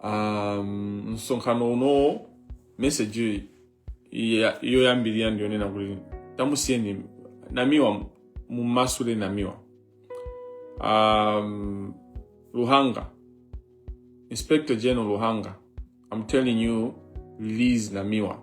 um, msonkhano unowo meseji ya- yoyambirira ndiyonena kuti tamusiyeni namiwa mumasule namiwa um, luhanga inspector general luhanga i'm telling you release namiwa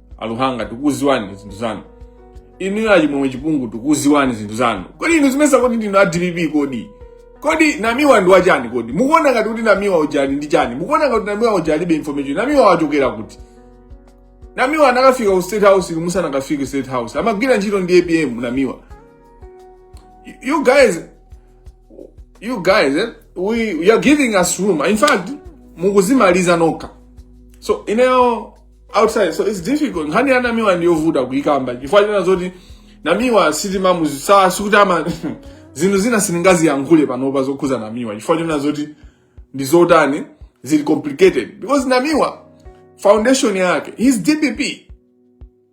a luhanga tikuziwani zinthu zanu inuyo achimwemwe chipungu tikuziwani zinthu zanu kodi inu zimesa kodi ndinu a dpp kodi kodi namiwa ndi wachani kodi mukuona ngati kuti namiwa uja ndi chani mukuona ngati namiwa uja alibe information namiwa wachokera kuti namiwa anakafika ku state house inu musanakafike ku state house amagwira ntchito ndi apm namiwa You- you guys you guys eh, we, we are giving us room in fact mukuzimaliza nokha so ineyo outside so it's difficult nkhani ya namiwa ndiyovuta kuikamba chifukwa china zoti namiwa sitimamuziwa sikuti ama zinthu zina sindingaziyankhule panopa zokhuza namiwa chifukwa china zoti ndi zotani zili complicated because namiwa foundation yake he's dpp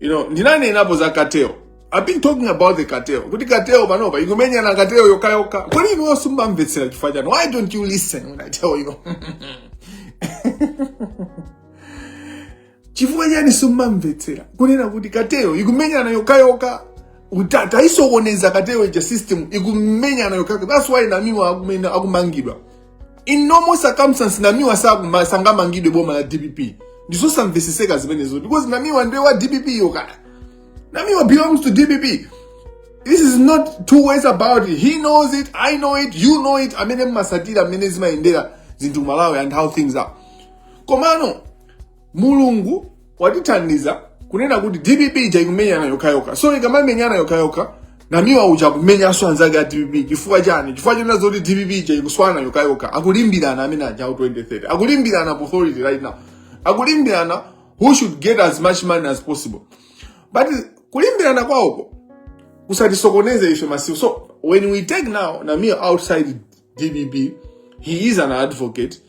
you know ndinanenapo za cartel i've been talking about the cartel kuti cartel panopa ikumenyana cartel yokayoka kodi inuyo simumamvetsera chifukwa chani why don't you listen when i tell you chifukwa chani simumamvetsera kunena kuti cartel ikumenyana yokayoka titaisokoneza cartel ija system ikumenyana yokayoka that's why namiwa akumangidwa in normal circumstance namiwa sakuma- sangamangidwe boma la dpp ndizosamveseseka zimenezo because namiwa ndiye wa dpp yo kaya namiwa belongs to dpp there is no two ways about it he knows it i know it you know it amene mmasatira mmene zimayendera zinthu ku malawi and how things are komano mulungu watithandiza kunena kuti dpp ija ikumenyana yokhayokha so ikamamenyana yokhayokha namiwa uja akumenyanso anzake a dpp chifukwa chani chifukwa chonena zoti dpp ija ikuswana yokhayokha akulimbirana amene aja 2030 akulimbirana authority right now akulimbirana who should get as much money as possible but kulimbirana kwawoko kusatisokoneze ife masiku so when we take now namiwa outside dpp he is an advocate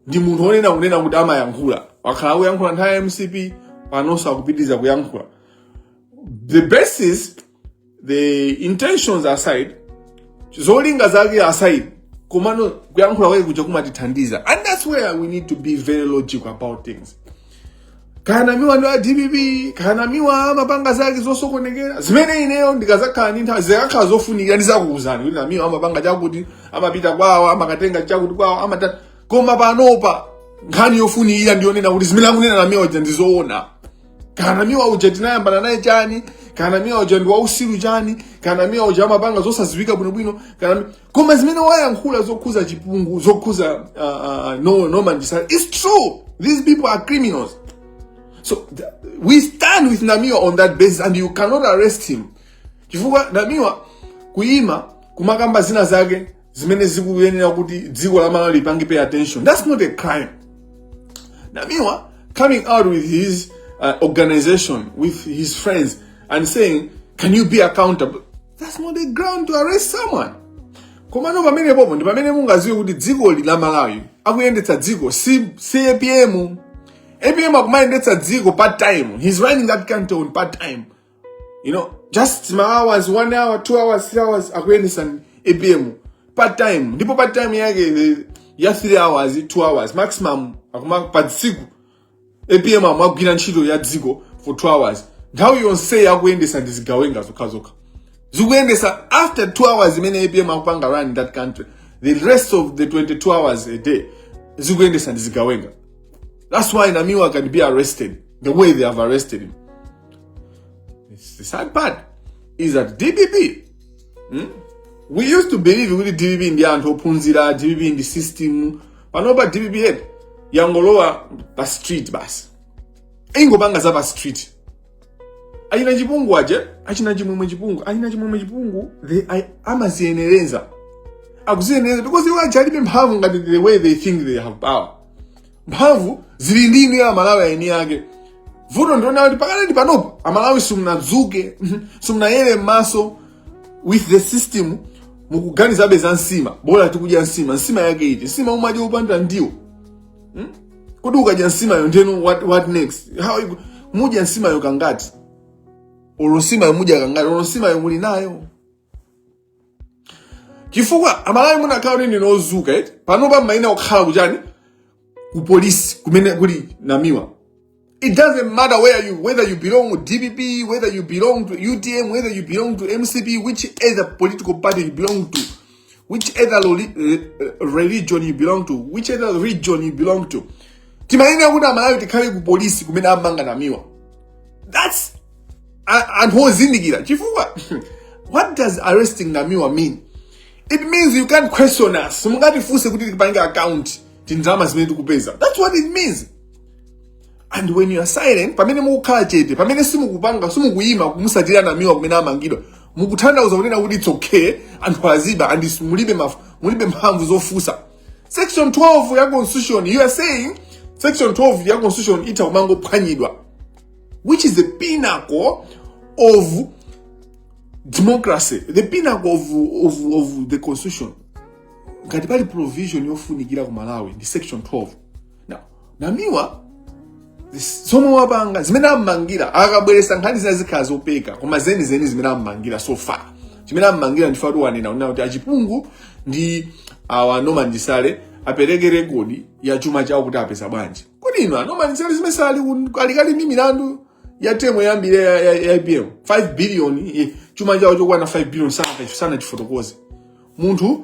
ndi munthu wonena kunena kuti amayankhula wakhala akuyankhula nthawi ya mcp panonso akupitiriza kuyankhula the basis the intentions aside zolinga zake aside komano kuyankhula kwake kuja kumatithandiza and that's where we need to be very logical about things kaya namiwa ndi wa dpp kaya namiwa amapanga zake zosokonekera zimene ineyo ndikazakhala ndi nthawi zikakhala zofunikira ndizakuuzani kuti namiwa amapanga chakuti amapita kwawo amakatenga chakuti kwawo amata koma panopa nkhani yofunikira ndiyonena kuti zimene akunena namiwa uja ndizoona kaya namiwa uja tinayambana naye chani kaya namiwa uja ndi wausiru chani kaya namiwa uja amapanga zosaziwika bwinobwino kanami koma zimene wayankhula zokhuza chipungu zokhuza uh, uh, Norman Chisale it's true these people are criminals so th- we stand with namiwa on that basis and you cannot arrest him chifukwa namiwa kuima kumakamba zina zake zimene zikuyenera kuti dziko la malawi lipange pay attention that's not a crime namiwa coming out with his uh, organization with his friends and saying can you be accountable that's not a ground to arrest someone komano pamenepopo ndi pamene mungaziwe kuti dziko la malawi akuyendetsa dziko si, si apm apm akumayendetsa dziko part time he's running that country on part time you know just ma hours one hour two hours three hours akuyendetsa apm part time ndipo part time yake eh, ya three hours two hours maximum akuma pa tsiku apm amagwira ntchito ya dziko for 2 hours nthawi yonseyi akuyendesa ndi zigawenga zokhazokha zikuyendesa after 2 hours imene apm akupanga run that country the rest of the 22 hours a day zikuyendesa ndi zigawenga that's why namiwa can be arrested the way they have arrested him the sad part is that dpp hmm? we used to believe kuti dpp ndi anthu ophunzira dpp ndi system panopa dpp yake yangolowa pa street basi ingopanga za pa street achina chipungu aje achina chimwemwe chipungu achina chimwemwe chipungu they I, amaziyenereza akuziyenereza because iwo aje alibe mphamvu ngati the way they think they have power mphamvu zili ndi inuyo amalawi aeni ake vuto ndiona kuti pakati panopa amalawi simunadzuke simunayere m'maso with the system mukuganizabe za nsima bora tikudya nsima nsima yake iti nsima umadya yopanda ndiwo hmm? kodi ukadya nsimayo ndeno what, what next how you, mudya nsimayo kangati olo nsimayo mudya kangati olo nsimayo muli nayo chifukwa amalawi munakhala kuti ndinu ozuka eti panopa mumayenera kukhala kuchani ku polisi kumene kuli namiwa It doesn't matter where you, whether you belong to DPP, whether you belong to UTM, whether you belong to MCP, which is a political party you belong to, which other uh, religion you belong to, which other region you belong to. Timayenera kuti amalawi tikhale ku polisi kumene amanga namiwa. That's and hozindikira chifukwa what does arresting namiwa mean? It means you can't question us. Mungatifunse kuti tipange account tindalama zimene tikupeza. That's what it means. and when you are silent pamene mukukhala chete pamene simukupanga simukuyima kumusatira namiwa kumene amangidwa mukutanthauza kunena kuti it's okay anthu aziba and is- mulibe maf- mulibe mphamvu zofusa section 12 ya constitution you are saying section 12 ya constitution itha kumangophwanyidwa which is the pinnacle of democracy the pinnacle of, of, of the constitution ngati pali provision yofunikira ku malawi ndi section 12 namiwa zomwe wapanga zimene ammangira akabweresa nkhani zina zikhala zopeka koma zeni zeni zimene ammangira so far chimene ammangira ndifa kuti wanena kunena kuti a chipungu ndi awa a norman chisale apereke rekodi ya chuma chawo kuti apeza bwanji kodi inu a norman chisale zimene sali ali kale ndi milandu ya temo yambiri ya, ya, ya IBM 5 billion eh, chuma chawo chokwana 5 billion sana sanachifotokoze munthu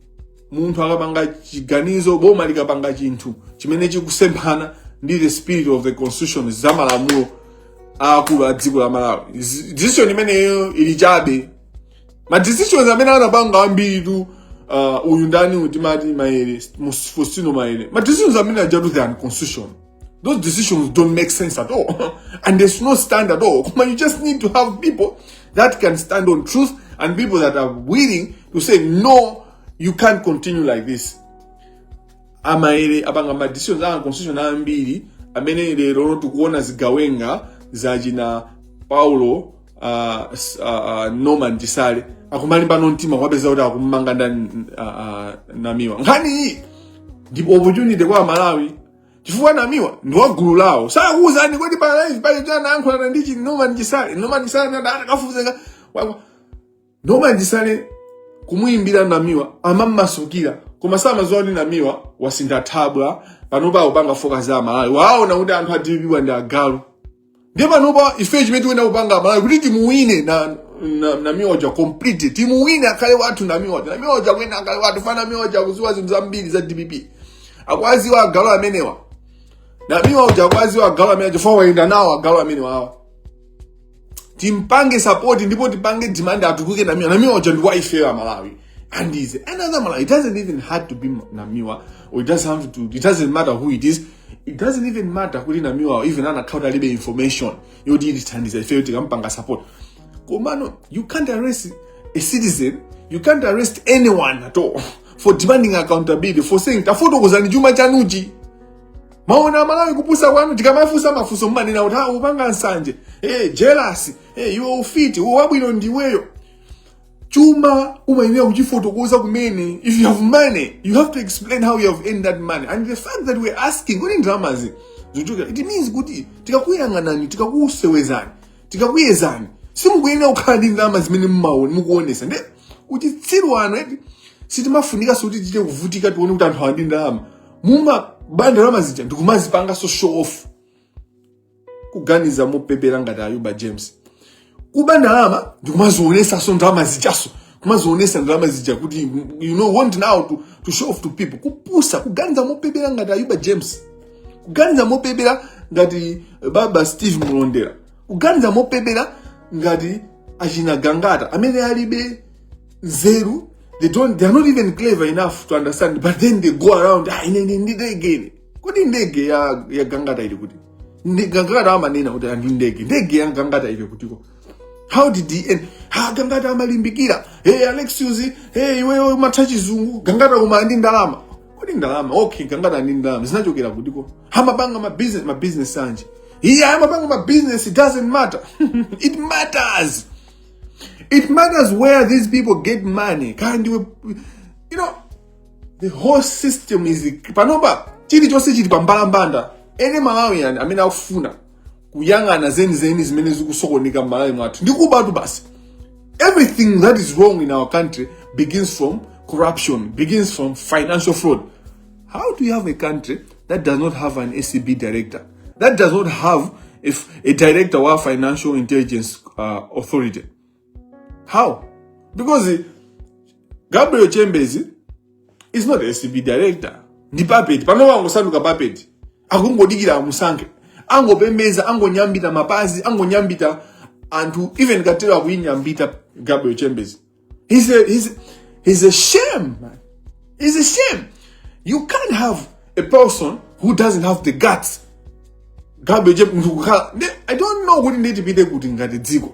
munthu akapanga chiganizo boma likapanga chinthu chimene chikusemphana ndi the spirit of the constitution za malamulo aakulu a dziko la malawi Zi- decision imeneyo ili chabe ma decisions amene anapanga ambiritu uh, uyu ndani timati maele Mus- fostino maele ma decisions amene ajatu they're unconstitutional Those decisions don't make sense at all. and there's no stand at all. Come on, you just need to have people that can stand on truth and people that are willing to say, no, you can't continue like this. amaere apanga madecisions a constitution ambiri amene lero tikuona zigawenga zachina paulo uh, uh, norman chisale akumalimbana mtima kwapeza kuti akummanga nda uh, uh, namiwa nkhani iyi ndi opportunity kwa malawi chifukwa namiwa ndi wa gulu lawo sakuwuzani kodi palibe pali kuti anayankhulana ndi chi norman chisale norman chisale adakafuzenga norman chisale kumuyimbira namiwa amammasukira koma samadziwa kuti namiwa wasintha thabwa panopa akupanga focus za amalawi waona kuti anthu a dpp awa ndi agalu ndiye panopa ife chimene tikuyenera kupanga amalawi kuti timuwine na, na, namiwa uja complete timuwine akhale wathu namiwa uja namiwa uja akuyenera akhale wathu fa namiwa uja akuziwa zinthu zambiri za dpp akwaziwa agalu amenewa namiwa uja akwaziwa agalu amenewa chifukwa wayenda nawo agalu amenewa awa timpange sapoti ndipo tipange demand atuluke namiwa uja namiwa uja ndi wa ife amalawi And is another Malawi. It doesn't even have to be Namiwa, or it doesn't have to. It doesn't matter who it is. It doesn't even matter kuti Namiwa or even an account alibe information. Yo did it and is a failed to kampanga support. Komano, you can't arrest a citizen. You can't arrest anyone at all for demanding accountability for saying tafotokozani chuma chanuchi. maona malawi kupusa kwanu tikamafunsa mafunso mmanena kuti akupanga ah, nsanje hey, eh, jealous hey, eh, iwe ufiti uwabwino ndiweyo chuma umayenera kuchifotokoza kumene if you have money you have to explain how you have earned that money and the fact that we're asking kodi ndalamazi zachokera it means kuti tikakuyang'anani tikakusewezani tikakuyezani simukuyenera kukhala ndi ndalama zimene mumaona mukuonesa nde uchitsiru wanu eti sitimafunikanso kuti tichite kuvutika tione kuti anthu ali ndi ndalama mumaba ndalama zija ndikumazipangaso show off kuganiza mopepera ngati ayuba james kuba ndalama ndikumazionesanso ndalama zijaso kumazionesa ndalama zija kuti you know want now to, to show off to people kupusa kuganiza mopepera ngati ayuba james kuganiza mopepera ngati baba steve malondera kuganiza mopepera ngati achina gangata amene alibe nzeru they don't they are not even clever enough to understand but then they go around ah, ine ndi ndege kodi ndege ya, ya gangata ili kuti Nde- gangata amanena kuti ndi ndege ndege ya gangata ili kutiko how did he end ha gangata amalimbikira hey alexius hey iwewe umatha chizungu gangata koma ndi ndalama kodi ndalama okay gangata ndi ndalama zinachokera kutiko amapanga ma business ma business anji iye amapanga ma business it doesn't matter it matters it matters where these people get money kaya ndiwe you know the whole system is panopa chilichonse chili pa mbalambanda any Malawian amene akufuna kuyang'ana zenizeni zimene zikusokonekera m'Malawi mwathu ndi kubatu basi everything that is wrong in our country begins from corruption begins from financial fraud how do you have a country that does not have an acb director that does not have a director wa financial intelligence uh, authority How? Because Gabriel Chambers is not a STB director. Ndi puppet. Panowa angosanduka puppet. Akungodikira amusankhe. Angopembeza, angonyambita mapazi, angonyambita anthu even katero akuinyambita Gabriel Chambers. He's a, he's, he's a shame, man. He's a shame. You can't have a person who doesn't have the guts. Gabriel Chambers, I don't know kuti nditipite kuti ngati dziko.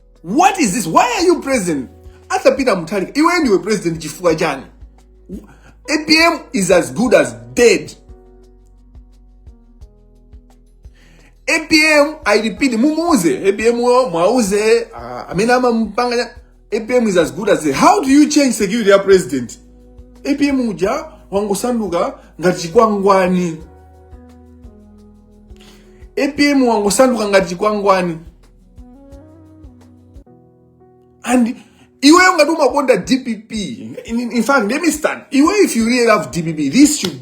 what is this why are you president arthur peter mutharika iwe ndiwe president chifukwa chani apm is as good as dead apm i repeat mumuuze apm mwauze ah, amene amamupanga apm is as good as dead how do you change security ya president apm uja wangosanduka ngati chikwangwani apm wangosanduka ngati chikwangwani and iweyo ngati umakonda dpp in, in fact let me start iweyo if you really love dpp this should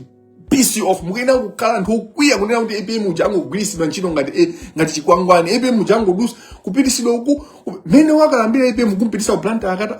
piss you off mukuyenera kukhala anthu okwiya kunena kuti apm uja angogwiritsidwa ntchito ngati eh, ngati chikwangwani apm uja angodusa kupitisidwa uku ku- mmene wakalambira apm kumpitisa ku blantyre after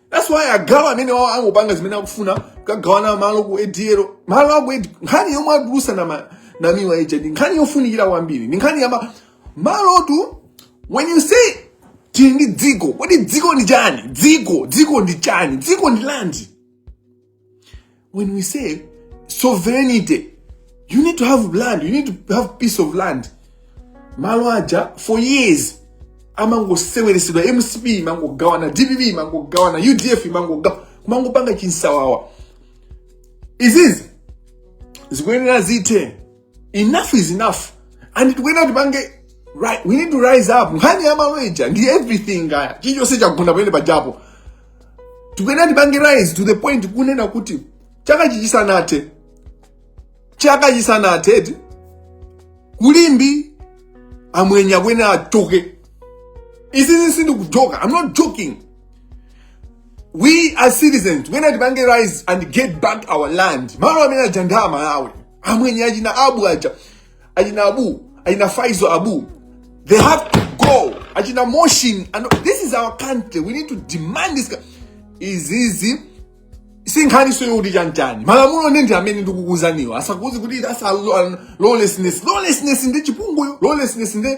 that's why agawa amenewa angopanga zimene akufuna kukagawana malo ku adl malo aku ADL. nkhani yomwe atulusa na ma- na miwa ija ndi nkhani yofunikira kwambiri ndi nkhani yama malotu when you say tili ndi dziko kodi dziko ndi chani dziko dziko ndi chani dziko ndi land When we say sovereignty, you need to have land, you need to have piece of land. Malo aja for years amangoseweretsedwa mcp imangogawana dpp imangogawana udf imangogawana kumangopanga chinsawawa izizi zikuyenera zithe enough is enough and tikuyenera tipange rise we need to rise up nkhani ya malo ija ndi everything kaya chilichonse chakugunda pamene pajapo tikuyenera tipange rise to the point kunena kuti chaka chichisanathe chaka chisanathe ku limbe amwenye akuyenera achoke isizi sindikujoka i'm not joking we as citizens tikuyenera tipange rise and get back our land malo amene aja ndi amalawi amwenye achina abu aja achina abu achina faizal abu they have to go achina motion and this is our country we need to demand this izizi si nkhaninso yoti chanichani malamulo nde ndi amene ndikukuuzaniwa asakuuzeni kuti that's a lawlessness lawlessness ndi chipungu uyo lawlessness ndi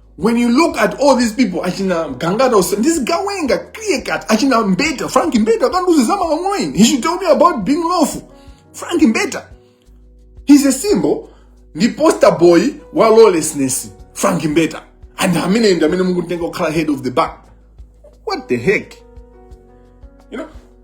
when you look at all these people achina gangata onse ndizigawenga clear cut achina mbeta frank mbeta akandiuze zamalamulo ine he should tell me about being lawful frank mbeta he's a symbol ndi poster boy wa lawlessness frank mbeta and amene ndi amene mukutenga kukhala head of the bar what the heck you know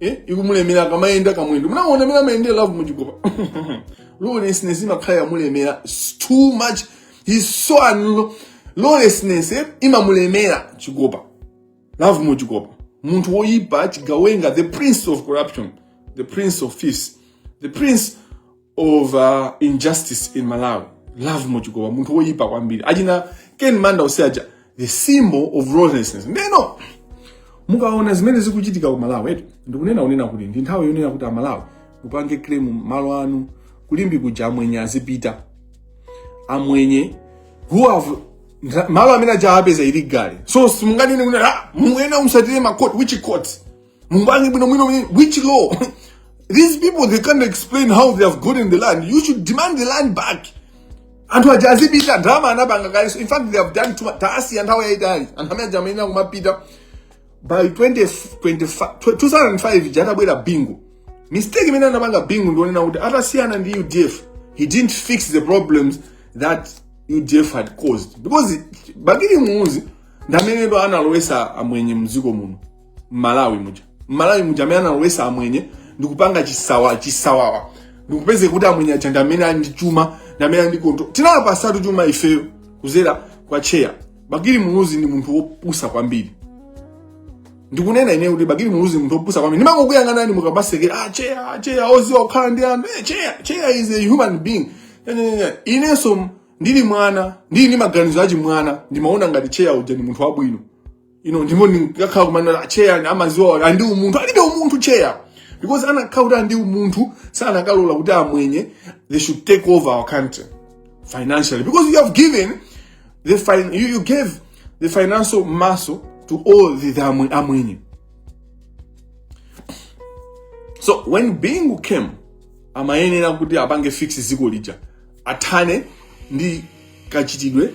eh ikumulemera akamayenda kamwendo munaona mmene amayendera lovemore chikopa lawlessness imakhala yamulemera It's too much he's so un lawlessness eh, imamulemera chikopa lovemore chikopa munthu woyipa chigawenga the prince of corruption the prince of thieves the prince of uh, injustice in Malawi. Lovemore Chikopa, munthu woyipa kwambiri. Achina Ken Manda onse aja, the symbol of lawlessness. Ndeno, mukaona zimene zikuchitika ku Malawi, etu, ndikunena kunena kuti, ndi nthawi yonena kuti a Malawi, mupange claim malo anu, ku Limbe kuja amwenye azipita. Amwenye, who have malo amene aja apeza illegally. So, simunganene kunena, ah, mungena mutsatire ma court, which court? Mupange bwino bwino bwino, which law? These people, they can't explain how they have gotten the land. You should demand the land back. anthu aja azipita ndalama anapanga kalenso in fact they have done too much taasiya nthawi yayitali anthu amene aja amayenera kumapita by 20, 25 2005 ija atabwera bingu mistake imene anapanga bingu ndionena kuti atasiyana ndi udf he didn't fix the problems that udf had caused because bakili muluzi ndamenepo analowesa amwenye mdziko muno mmalawi muja mmalawi muja amene analowesa amwenye ndikupanga chisawa chisawawa ndikupezeka kuti amwenye aja ndi amene ali ndi chuma ndi amene ali ndi control tinawapasatu chuma ifeyo kuzera kwa cheya bakili muluzi ndi munthu wopusa kwambiri ndikunena ine kuti bakili muluzi munthu wopusa kwambiri ndimangokuyang'anani mukamaseka ah cheya ah, cheya oziwa kukhala ndi anthu eh, cheya cheya is a human being Eh, eh, eh. inenso ndili mwana ndili ndi maganizo achimwana ndimaona ngati cheya uja ndi munthu wabwino you know ndipo ndikakhala kumanena acheya amaziwa andi umunthu alibe umunthu cheya because anakhala kuti andi umunthu sanakalola kuti amwenye they should take over our country financially because you have given the fin you, you gave the financial muscle to all the, the amwe- amwenye so when bingu came amayenera kuti apange fix ziko lija athane ndi kachitidwe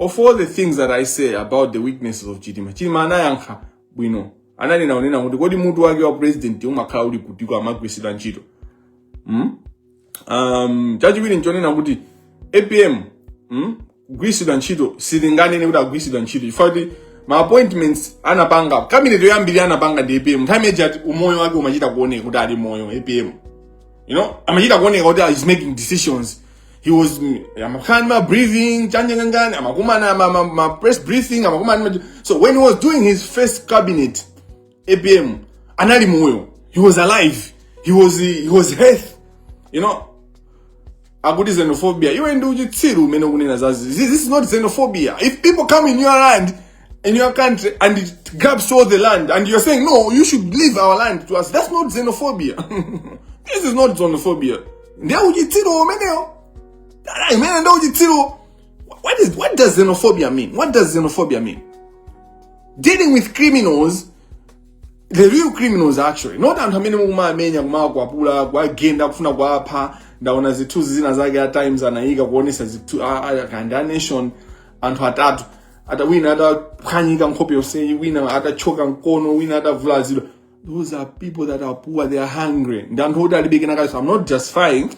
Of all the things that I say about the weaknesses of Chilima, Chilima anayankha bwino. Ananena unena kuti kodi mutu wake wa president umakhala uli kuti kwa magwisidwa ntchito. Mm? Um, chachiwiri nchonena kuti APM mm? gwisidwa ntchito silinganene kuti agwisidwa ntchito chifukwa kuti ma appointments anapanga cabinet yoyambirira anapanga ndi APM nthawi imene ati umoyo wake umachita kuoneka kuti ali moyo APM you know amachita kuoneka kuti he's making decisions he was amakhala ma briefing chanje ngangani amakumana ma, ma, ma press briefing amakumana so when he was doing his first cabinet apm anali moyo he was alive he was he was healthy you know akuti xenophobia iwe ndi uchitsiru umene ukunena zazi this is not xenophobia if people come in your land in your country and it grabs all the land and you're saying no you should leave our land to us that's not xenophobia this is not xenophobia what is what does xenophobia mean what does xenophobia mean dealing with criminals the real criminals actually not anthu amene mukumamenya kumawakwapula kuwagenda kufuna kuwapha ndaona zithunzi zina zake a times anayika kuonesa zithu a, a, a, a nation anthu atatu ata wina ataphwanyika nkhope yonseyi wina atachoka mkono wina atavulazidwa those are people that are poor they are hungry ndi anthu oti alibe kenakake so i'm not justifying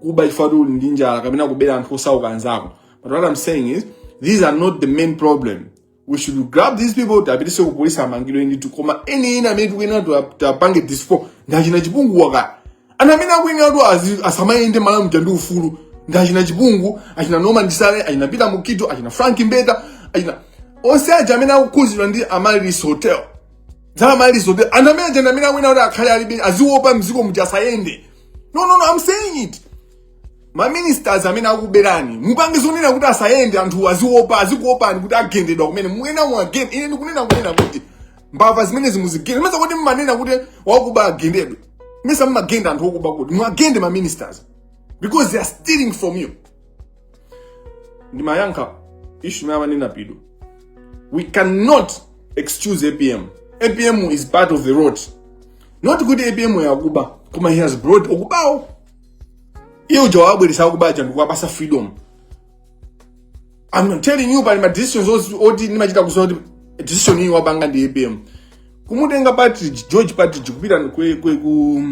kuba chifukwa kuti uli ndi njala kapena kubera anthu osauka anzako but what i'm saying is these are not the main problem we should grab these people tapitise ku polisi amangidwe ndithu koma eni eni amene tikuyenera tapange dispose ndi achina chipunguwa ka anthu amene akuyenerano azi- asamayende malawi muja ndi ufulu ndi achina chipungu achina norman chisale achina peter mukhito achina frank mbeta achina onse aja amene akukhuzidwa ndi amaryllis hotel za amaryllis hotel anthu amene aja ndi amene akuyenera kuti akhale alibe aziopa mziko muja asayende no no no i'm saying it maministers amene akuberani mupange zonena kuti asayende anthu aziopa azikuopani kuti agendedwa kumene muwaone muwagende ine ndikunena kunena kuti mbava zimenezi muzigenda mesa kuti mmanena kuti wakuba agendedwe mesa mumagenda anthu okuba kuti muwagende ma ministers because they are stealing from you ndimayankha ishu imene amanena pidu we cannot excuse apm apm is part of the rot not kuti apm akuba koma he has brought okubawo iye uja wawabweresa akubaja ndikuwapasa freedom I'm telling you pali ma decisions oti- oti ndimachita kudziwa kuti decision iyi wapanga ndi apm kumutenga partridge george partridge kupita ku, ku, ku,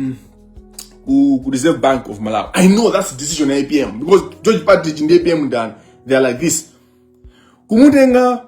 ku, ku reserve bank of malawi i know that's the decision ya apm because george partridge ndi apm ndani they are like this kumutenga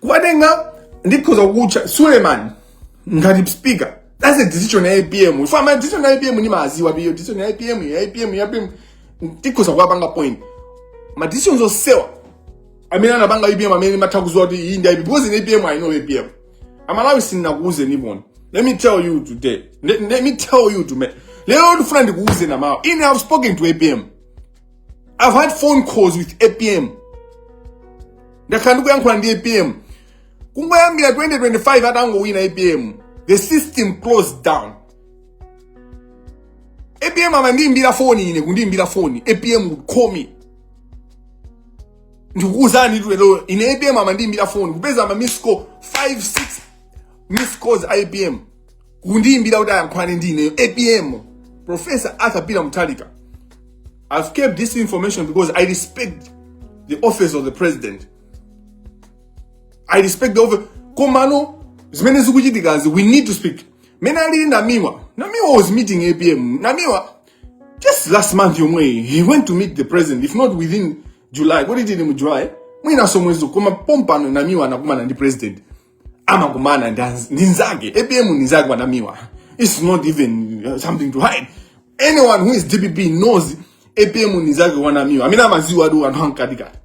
kuwatenga ndikhoza kutchula suleman ngati speaker that's a decision ya apm ineyo ma decision ya apm ndimaziwa pure decision ya apm ya apm ya apm ndikhoza kuwapanga point ma decisions onsewa amene anapanga apm amene ndimatha kuziwa kuti iyi ndi apm because ine apm i know apm amalawi sindinakuuze niponi let me tell you today let, let me tell you to me lero ndifuna ndikuuzeni amalawi ine i've spoken to apm I've had phone calls with APM. Ndakhala ndikuyankhula ndi APM. Kungoyambira 2025 atangowina APM. The system closed down. APM amandiimbira foni ine kundiimbira foni. APM would call me. Ndikukuuzani tu lero ine APM amandiimbira foni kupeza ma miss call 5 6 miss calls APM. kundiyimbira kuti ayankhulane ndi ineyo apm professor arthur peter mutharika i've kept this information because i respect the office of the president i respect the office komano zimene zikuchitikazi we need to speak mene alili namiwa namiwa was meeting apm namiwa just last month yomweyi he went to meet the president if not within july kodi tili mu july mwinaso mwezi uno koma pompano namiwa anakumana ndi president amakumana ndi nzake apm ndi nzake wa namiwa it's not even uh, something to hide anyone who is dpp knows apm ndi nzake wa namiwa amene amaziwa adu anthu ankatikati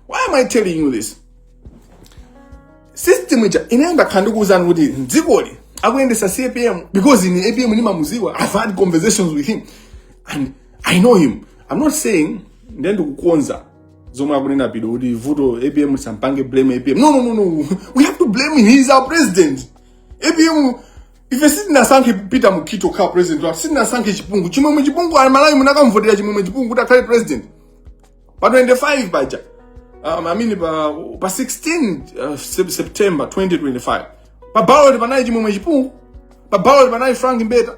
why am i telling you this system ija ine ndakhala ndikuwuzani kuti mdzikoli akuyendesa si apm because ine apm ndimamuziwa i've had conversations with him and i know him i'm not saying ine ndikukonza zomwe akunena pido kuti vuto apm tisampange blame apm no no no no we have to blame him he is our president apm ife sitinasankhe peter mukhito kukhala president wathu sitinasankhe chipungu chimwemwe chipungu ali malawi munakamvotera chimwemwe chipungu kuti akhale president pa 25 paja um, I mean, pa, pa 16 uh, Sep- september 2025 pa ballot panali chimwemwe chipungu pa ballot panali frank mbeta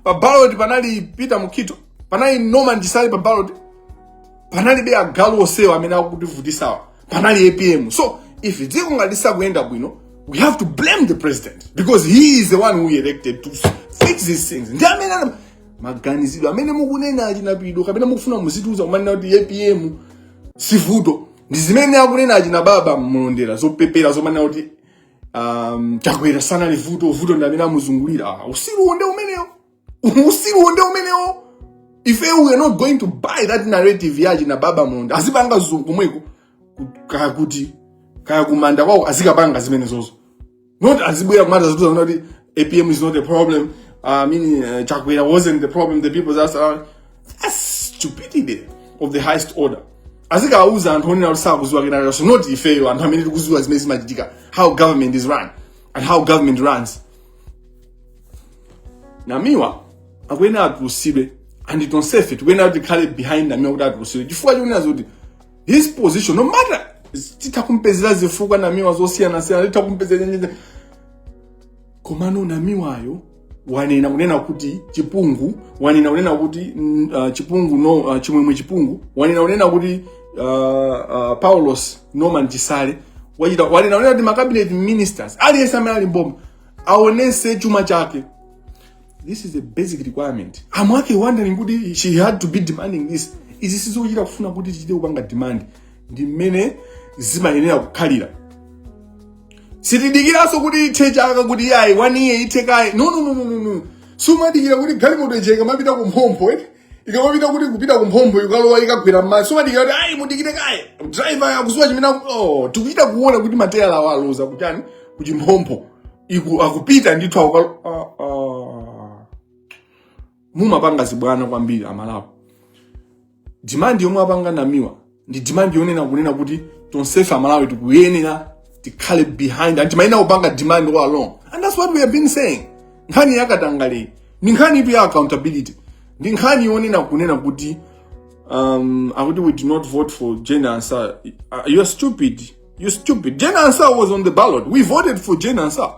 pa ballot panali peter mukhito panali norman chisale pa ballot panalibe agalu onsewa amene akutivutisawa panali apm so if dziko ngati silikuyenda bwino we have to blame the president because he is the one who elected to fix these things ndi amene ana- maganizidwe amene mukunena achina pido kapena mukufuna muzitiuza kumanena kuti apm sivuto ndi zimene akunena achina baba mmulondera zopepera zomanena kuti um, chakwera sanali vuto vuto ndi amene amuzungulira Ah, usiru uwo nde umenewo usiru nde umenewo ife we are not going to buy that narrative yachi na baba mulonda azipanga zokomweko kaya kuti kaya kumanda kwawo azikapanga zimenezozo not azibwera kumatiuza kuti apm is not a problem uh, i mean uh, chakwera wasn't the problem the people that's around that's stupidity of the highest order azikauza anthu onena kuti sakuziwa kanthu so not ifeyo anthu amene tikuziwa zimene zimachitika how government is run and how government runs namiwa akuyenera atulusidwe and tonsefe tikuyenera kuti tikhale behind namiwa kuti atulusidwe chifukwa chonena zoti his position no matter titha kumpezera zifukwa namiwa zosiyanasiyana titha kumpezera nyenye komano namiwayo wanena kunena kuti chipungu wanena kunena kuti mm, uh, chipungu no uh, chimwemwe chipungu wanena kunena kuti uh, uh, paulos norman chisale wachita wanena kunena kuti macabinet ministers aliyense amene ali mboma aonese chuma chake this is a basic requirement amwake wondering kuti she had to be demanding this izi sizochita kufuna kuti tichite kupanga demand ndi mmene zimayenera kukhalira sitidikiranso kuti ithe chaka kuti yayi one year ithe kaye no no no no no no sumadikira kuti galimoto ija ikamapita ku mphompho eti ikamapita kuti kupita ku mphompho ikalowa ikagwera m'madzi sumadikira kuti ayi mudikire kaye driver akuziwa chimene aku- oh, tikuchita kuona kuti matayala awo aloza kuchani kuchimphompho iku akupita ndithu akukalo ah, ah. mumapanga zibwana kwambiri amalapo demand yomwe apanga namiwa ndi demand yonena kunena kuti tonsefe amalawi tikuyenera tikhale behind and timayenera kupanga demand all along and that's what we have been saying nkhani yakatangaleyi ndi nkhanitu ya accountability ndi nkhani yonena kunena kuti um, akuti we did not vote for Jane Ansah. Uh, you're stupid. You're stupid. Jane Ansah was on the ballot. We voted for Jane Ansah.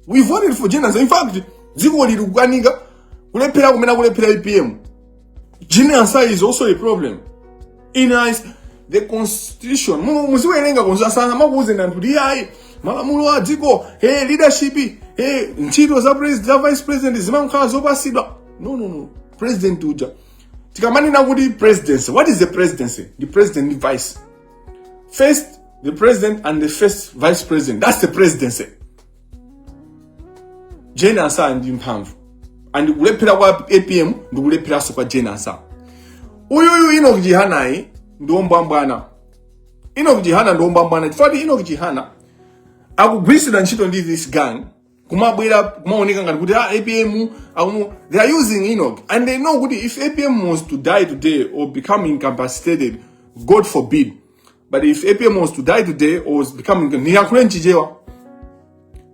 We voted for Jane Ansah. In fact, dziko lili kukanika kulephera kumene kulephera APM. Jane Ansah is also a problem. In eyes, the constitution, muziwerenga constitution makuuze ndanthu ndi ayi malamulo a dziko hey, leadership hey, ntchito za president za vice president zimakhala zopasidwa no no no president uja tikamanena kuti presidency what is the presidency the president ndi vice first the president and the first vice president that's the presidency jane ansah ndi mphamvu and kulephera kwa apm ndi kulepheranso kwa jane ansah uyuyu enoch chihanayu ndi ombwambwana enoch chihana ndi ombwambwana chifukwa kuti enoch chihana akugwiritsidwa ntchito ndi this gang kumabwera kumaoneka ngati kuti ah, apm akumu they are using enoch and they know kuti if apm was to die today or become incapacitated god forbid But if APM was to die today or was becoming niyankhule m'chichewa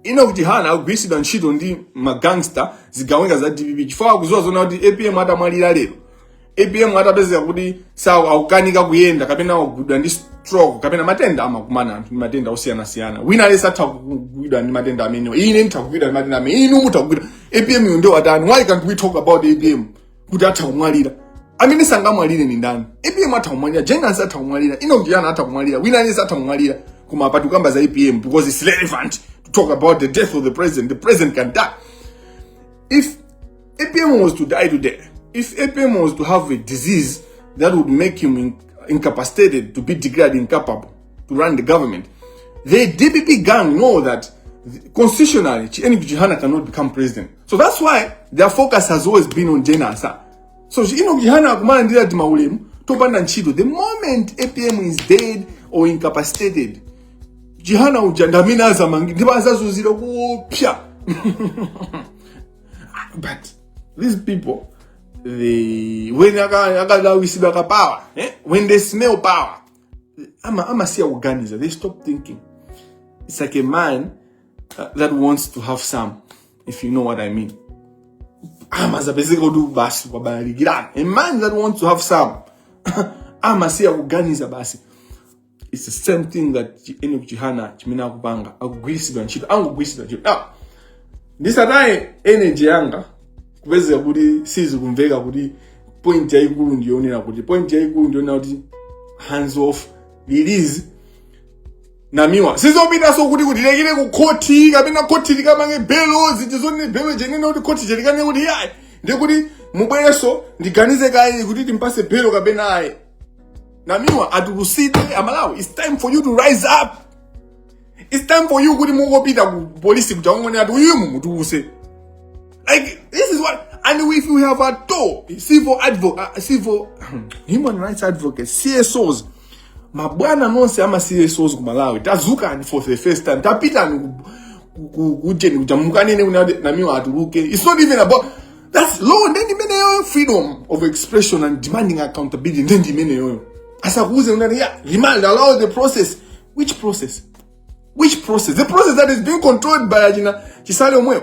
enoch chihana akugwiritsidwa ntchito ndi magangster zigawenga za dpp chifukwa akuziwa zona kuti apm atamwalira lero apm atapezeka kuti sawa akukanika kuyenda kapena akugwidwa ndi stroke kapena matenda amakumana anthu ndi matenda osiyanasiyana wina aliyense atha kugwidwa ndi matenda amenewa ine nditha kugwidwa ndi matenda amene inu mutha kugwidwa apm yo ndio watani why can't we talk about apm kuti atha kumwalira amene sangamwalire ni ndani apm atha kumwalira jane ansah atha kumwalira enoch chihana atha kumwalira wina aliyense atha kumwalira koma apa tikukamba za apm because it's relevant to talk about the death of the president the president can die if apm was to die today if apm was to have a disease that would make him in incapacitated to be declared incapable to run the government the dpp gang know that constitutionally enoch chihana cannot become president so that's why their focus has always been on jane ansah so enoch chihana akumalandira timaulemu topanda ntchito the moment apm is dead or incapacitated chihana uja ndi amene azamangidwe ndipo azazunzika kuipa but these people they when aka- akalawisidwa kapower eh? when they smell power ama amasiya kuganiza they stop thinking it's like a man uh, that wants to have some, if you know what I mean. Amazapezeka kuti basi kubalalikiratu. A man that wants to have some. Amasiya kuganiza basi. It's the same thing that Enoch Chihana chimene akupanga. Akugwiritsidwa ntchito. Angogwiritsidwa ntchito. Now, ndisataye energy yanga kupezeka kuti sizikumveka kuti point yaikulu ndiyonena kuti point yaikulu ndiyonena kuti hands off release namiwa sizopitanso kuti kutilekere ku khoti kapena khoti likamange belo ziti zonena belo chonena kuti khoti likakane kuti yayi ndikuti mubwerenso ndiganize kaye kuti timpase belo kapena ayi namiwa atulusidwe amalawi its time for you to rise up its time for you kuti mungopita ku polisi kuti mukangonena kuti uyu mumutuluse like this is what and if we have actual civil advocate uh, civil human rights advocates csos mabwana nonse ama csos ku malawi tadzukani for the first time tapitani ku- ku- ku- kujeni kuja mukanene kuti namiwa atuluke its not even about that's law ndendi imeneyoyo freedom of expression and demanding accountability ndendi imeneyoyo asakuuze munthu za remand allow the process which process which process the process that is being controlled by achina chisale omwewo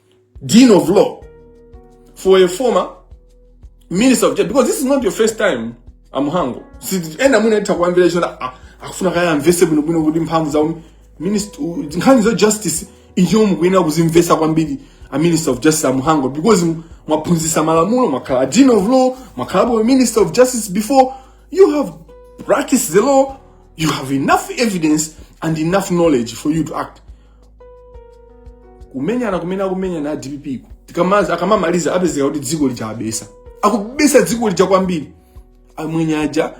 dean of law for a former minister of justice because this is not your first time amuhango ena mwina titha kuwamvera tinena ah, akufuna kaya amvese bwino bwino kuti mphamvu za nkhani za justice inuyo mukuyenera kuzimvesa kwambiri a minister of justice amuhango because mwaphunzisa malamulo mwakhala dean of law mwakhalapo minister of justice before you have practiced the law you have enough evidence and enough knowledge for you to act kumenyana kumene akumenyana a dpp uku tikamaza akamamaliza apezeka kuti dziko lija abetsa akubetsa dziko lija kwambiri amwenye aja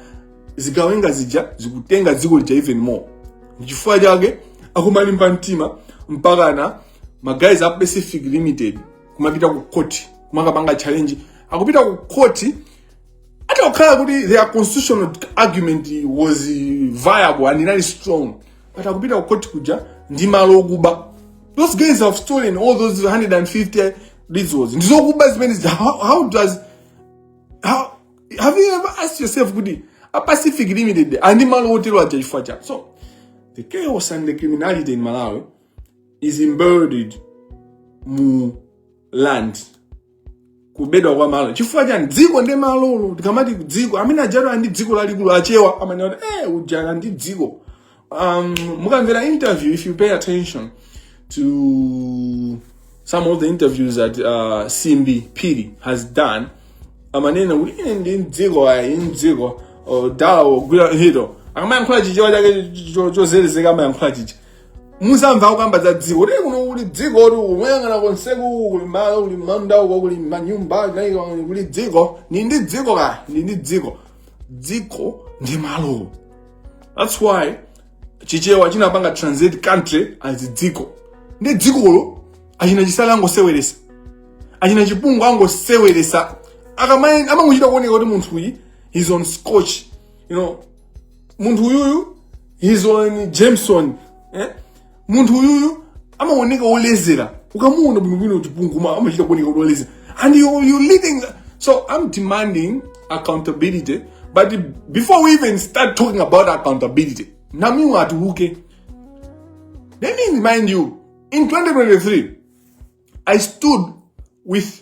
zigawenga zija zikutenga dziko lija even more nchifukwa chake akumalimba mtima mpakana maguys a pacific limited kumapita ku court kumakapanga challenge akupita ku court atakhala kuti their constitutional argument was viable and inali strong but akupita ku court kuja ndi malo okuba those guys have stolen all those 150 resorts ndizokuba zimene zi- how, how does how, have you ever asked yourself kuti a pacific limited ali ndi malo otero aja chifukwa cha so the chaos and the criminality in malawi is embedded mu land kubedwa kwa malo chifukwa chani dziko ndi malolo tikamati dziko amene ujalo ndi dziko lalikulu achewa amanena kuti eh ujala ndi dziko um, mukamvera interview if you pay attention to some of the interviews that uh, simbi phiri has done amanena kuti ine ndi mdziko ayi mdziko dala wogwira ntchito akamayankhula chichewa chake cho- cho- chozelezeka amayankhula chicha muzamva akukamba za dziko kuti kuno kuli dziko kuti ukayang'ana konseku kuli malo kuli manda uko kuli manyumba naika kuli dziko ndi ndi dziko ka ndi ndi dziko dziko ndi malo that's why chichewa chinapanga translate country as dziko ndi dzikolo achina chisale angoseweresa achina chipungu angoseweresa akamai amamuchita kuoneka kuti munthu uyu he's on scotch you know munthu uyuyu his on jameson eh? munthu uyuyu amaoneka olezera ukamuona bwinobwino chipungu ma- amachita kuoneka kuti olezera and you, you leading so i'm demanding accountability but before we even start talking about accountability namiwa atiuke let me remind you in 2023 i stood with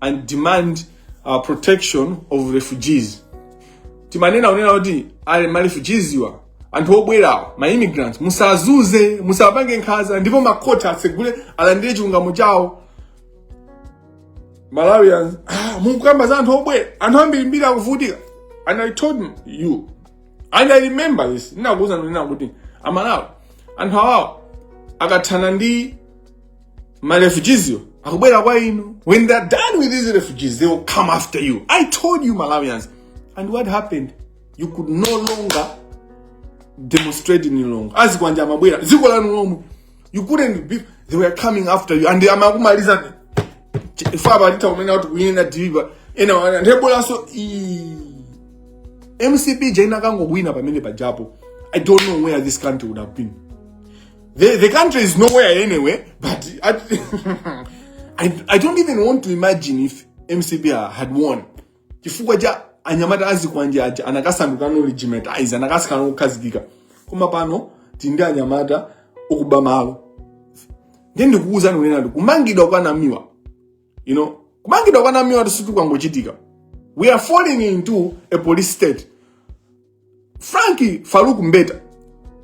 and demand uh, protection of refugees timanena kunena kuti ali ma refugees awa anthu obwerawo ma immigrants musazunze musapange nkhaza ndipo makhoti atsegule alandire chilungamo chawo malawians ah, mukukamba za anthu obwera anthu ambirimbiri akuvutika and i told you and i remember this ndinakuuzani kunena kuti amalawi anthu awawo akathana ndi My refugees you akubwera kwa inu. When they are done with these refugees, they will come after you. I told you Malawians. And what happened? You could no longer demonstrate any longer. Azikwanja amabwera. Ziko lanu lomwe. You couldn't be they were coming after you and amakumaliza faba alita kumena watu kuyenda deliver. Ena wana ndebola so MCP jaina kango wina pamene pajapo. I don't know where this country would have been. The, the country is nowhere anyway, but I, I, I don't even want to imagine if MCP had won. Chifukwa cha anyamata azikwanje aja anakasanduka now legitimized anakasikana kukhazikika. Koma pano tindi anyamata okuba malo. Ndiye ndikukuuzani kunena kuti kumangidwa kwa Namiwa, you know, kumangidwa kwa Namiwa sikuti kwangochitika. We are falling into a police state. Frank Faruk Mbeta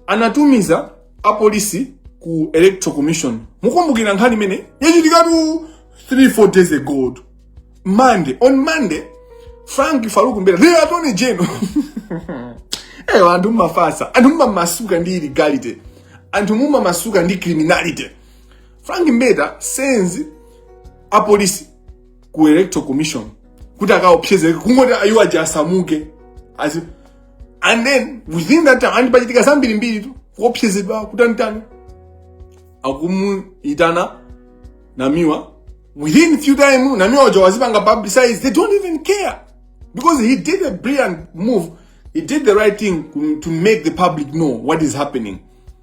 anatumiza apolisi ku Electoral Commission. Mukumbukira nkhani imene yachitikatu 3 4 days ago. Monday, on Monday, Frank Faruk Mbeta, the Attorney General. Eh, anthu mumafasa, anthu mumamasuka ndi illegality. Anthu mumamasuka ndi criminality. Frank Mbeta sends apolisi ku electoral commission kuti akaopsezeke kungoti ayi iwo aja asamuke Asi- and then within that time and pachitika zambirimbiri tu kuopsezedwa kutanitani akumuyitana Namiwa within few time Namiwa uja wazipanga publicize they don't even care because he did a brilliant move he did the right thing to- to make the public know what is happening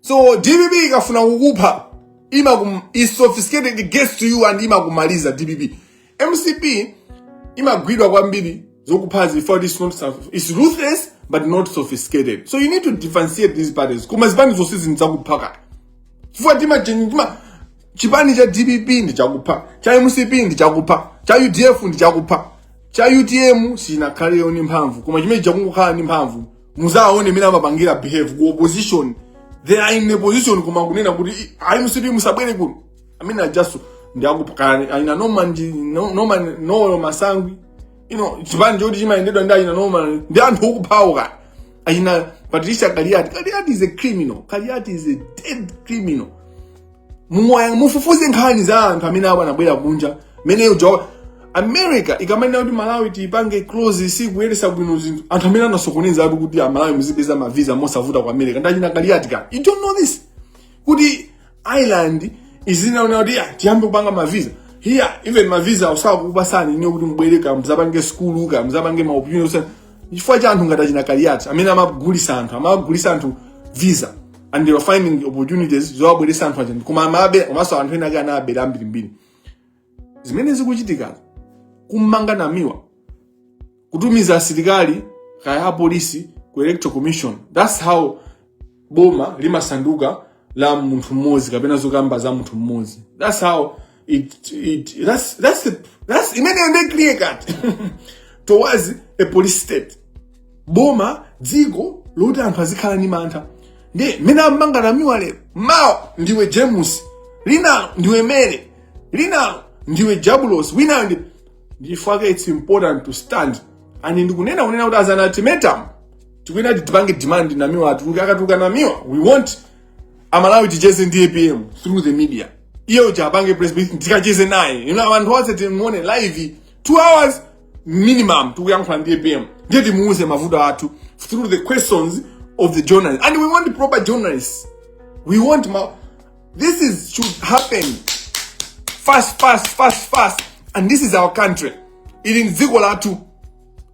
so dpp ikafuna kukupha imakum is sophisticated it gets to you and imakumaliza dpp mcp imagwidwa kwambiri zokuphazi for it's not soph- is ruthless but not sophisticated so you need to differentiate these parties koma zipani zonsezi ndi zakupha ka chifukwa timati chipani cha dpp ndi chakupha cha mcp ndi chakupha cha udf ndi chakupha cha utm sinakhale ndi mphamvu koma chimene chazangokhala ndi mphamvu muzaone mmene amapangira behave ku opposition they are in opposition koma kunena kuti ayi mcp musabwere kuno amene ajaso ndi akupha ka achina Noel ndi no- Noel Noel Masangwi you know chipani choti chimayendedwa ndi achina Noel ndi anthu okuphawo ka achina Patricia kaliati kaliati is a criminal kaliati is a dead criminal Mwa- mufufuze nkhani za anthu amene aba anabwera kunja mmene uja america ikamanena kuti malawi tiipange close sikuyendesa bwino zinthu anthu amene anasokoneza anthu kuti amalawi muzipeza mavisa mosavuta ku america nda achina kaliati ka you don't know this kuti ireland inaona kuti ah, tiyambe kupanga mavisa here even mavisa osakupatsani inuyo kuti mubwere ka mzapange skulu ka mzapange maopinion chifukwa cha anthu ngati achina kaliati amene amagulisa anthu amagulisa anthu visa and they were finding opportunities zowabweretsa anthu aja koma amabe komanso anthu ena ake anawabera ambirimbiri zimene zikuchitika kummanga Namiwa kutumiza asilikali kaya apolisi ku electoral commission thats how boma limasanduka la munthu mmodzi kapena zokamba za munthu mmodzi thats how it it that's that's a, that's imeneyo nde clear cut towards a police state boma dziko loti anthu azikhala ndi mantha nde mmene amanga namiwa lero mawa ndiwe james linalo ndiwe mere linalo ndiwe jabulos winayo ndi ifeka it's important to stand and ndikunena kunena kuti as an ultimatum tikuyenera tipange demand namiwa atuluke akatuluka namiwa we want amalawi ticheze ndi apm through the media iye uja apange press briefing tikacheze naye you know anthu onse timuone live two hours minimum tikuyankhula ndi apm ndiye timuuze mavuto athu through the questions of the journalists and we want proper journalists we want ma this should happen fast fast fast fast and this is our country ili ndi dziko lathu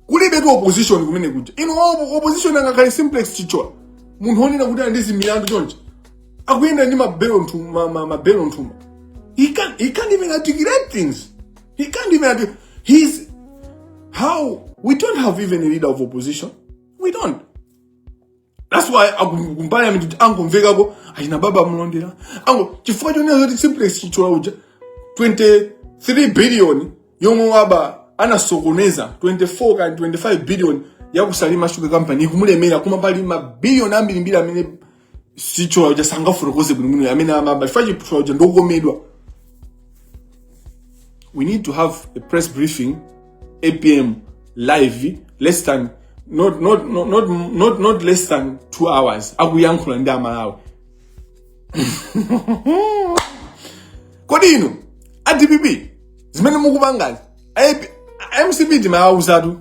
kulibetu opposition kumene kuja ino op- opposition angakhale simplex chithyola munthu onena kuti ali ndi zimilandu chonchi akuyenda ndi mabelo nthum- ma- ma- mabelo nthumba he can't, he can't even articulate things he can't even articulate. he's now we don't have even a leader of opposition we don't That's why akumbali ameneyo kuti angomvekako achina baba a mlondera ango chifukwa chonena zoti simplex chithyola uja 23 billion yomwe waba anasokoneza 24 ka 25 billion ya ku salima sugar company ikumulemera koma pali mabiliyoni ambirimbiri amene chithyola uja sangafotokoze bwinobwino amene anaba chifukwa chithyola uja ndokomedwa we need to have a press briefing apm live less than not, not, not, not, not, not less than two hours akuyankhula ndi amalawi kodi inu a dpp zimene mukupangazi a- a- mcp timawauzatu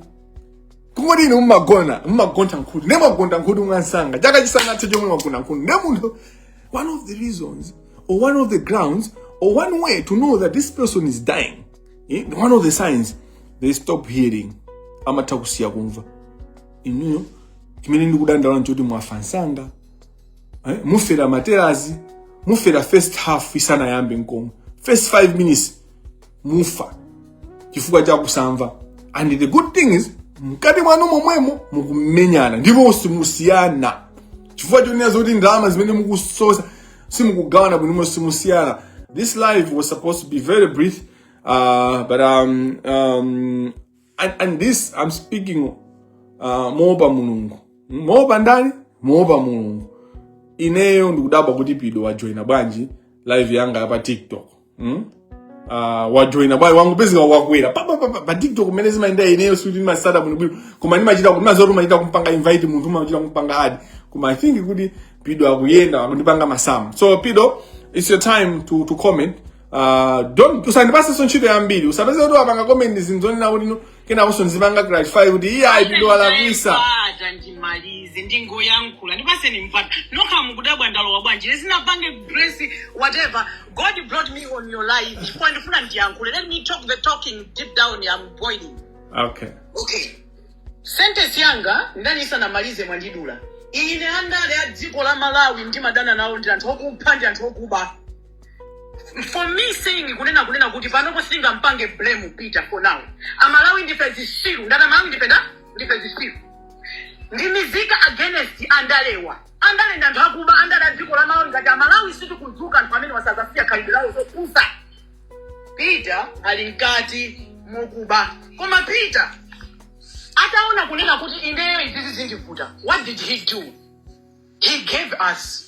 kungoti inu mumagona mumagontha nkhutu nde mwagontha nkhutu mwamsanga chaka chisanathe nkomwe mwagontha nkhutu nde munthu one of the reasons or one of the grounds or one way to know that this person is dying Eh, one of the signs they stop hearing amatha kusiya kumva inuyo chimene ndikudandaula nchoti mwafa msanga eh, mufera ma terrace mufera first half isanayambe nkomwe first five minutes mufa chifukwa cha kusamva and the good thing is mkati mwanu momwemo mukumenyana ndipo simusiyana chifukwa chonena zoti ndalama zimene mukusosa simukugawana bwino simusiyana this live was supposed to be very brief uh, but um, um, and, and this i'm speaking uh, moopa mulungu moopa ndani moopa mulungu ineyo ndikudabwa kuti pido wajoina bwanji live yanga ya pa tiktok mm? uh, wajoina bwanji wangopezeka wakwera pa- pa- pa- pa- pa tiktok mmene zimayendera ineyo sikuti ndimatsata bwinobwino koma ndimachita ndimva zoti umachita kumpanga invite munthu umachita kumpanga add koma i think kuti pido akuyenda akundipanga masamu so pido it's your time to, to comment uh, don't usandipasenso ntchito yambiri usapezeke kuti wapanga comment zinthu zonena kuti no, kenakonso ndizipanga clarify kuti iyayi pido walakwitsa but ndimalize ndikuyankhula ndipatseni mpata nokha mukudabwa ndalowa bwanji live simunapange grace whatever god brought me on your live chifukwa ndifuna ndiyankhule let me talk the talking deep down am boiling okay okay sentence yanga ndaniyi isanamalize mwandidula ine andale a dziko la malawi ndimadana nawo ndi anthu okupha ndi anthu okuba for me saying kunena kunena kuti panopo sindingampange blame peter for now amalawi ndife zisiru ndanena amalawi ndife nda ndife zisiru ndi mizika against andalewa andale ndi anthu akuba andale a dziko la malawi ngati amalawi sitikudzuka anthu amene awa sazasiya khalidwe lawo zopusa peter ali mkati mokuba koma peter ataona kunena kuti ineyo izizi zindivuta what did he do he gave us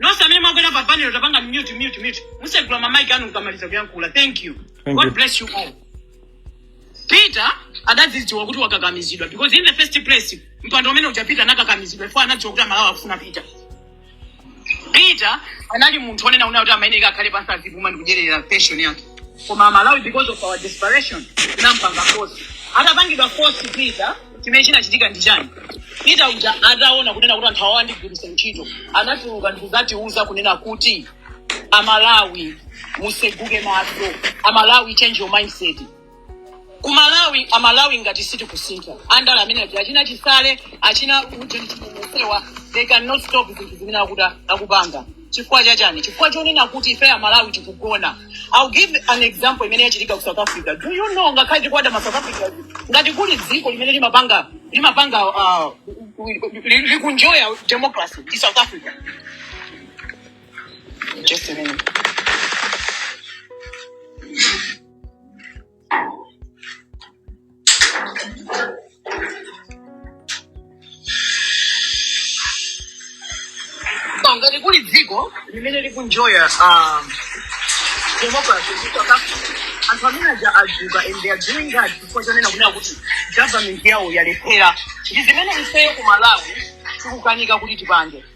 nonse amene mwakwera pa panel tapanga mute mute mute musegula ma mic anu mukamaliza kuyankhula thank you god bless you all peter adadzidziwa kuti wakakamizidwa because in the first place mpando umene uja peter anakakamizidwa ifo anadziwa kuti amalawi akufuna peter peter anali munthu onena una kuti amayeneka akhale pansi azipuma ndikudyerera pension yake koma amalawi because of our desperation tinampanga force atapangidwa force peter chimene chinachitika ndi chani peter uja ataona kunena kuti anthu awa andigwiritsa ntchito anatuluka ndikuzatiuza kunena kuti amalawi museguke maso amalawi change your mindset kumalawi amalawi ngati sitikusintha andale amene aja achina chisale achina ujeni chimumusewa they cannot stop zinthu zimene akuta akupanga chifukwa chachani chifukwa chonena kuti ife amalawi tikugona I'll give an example imene yachitika ku south africa do you know ngakhale tikuwada ma south africa ngati kuli dziko limene limapanga limapanga uh, li- likuenjoya democracy ndi south africa just a minute So, ngati kuli dziko limene likuenjoya um, democracy ku South Africa, anthu amene aja adzuka and they are doing that chifukwa chonena kunena kuti government yawo yalephera ndi zimene ifeyo ku malawi tikukanika kuti tipange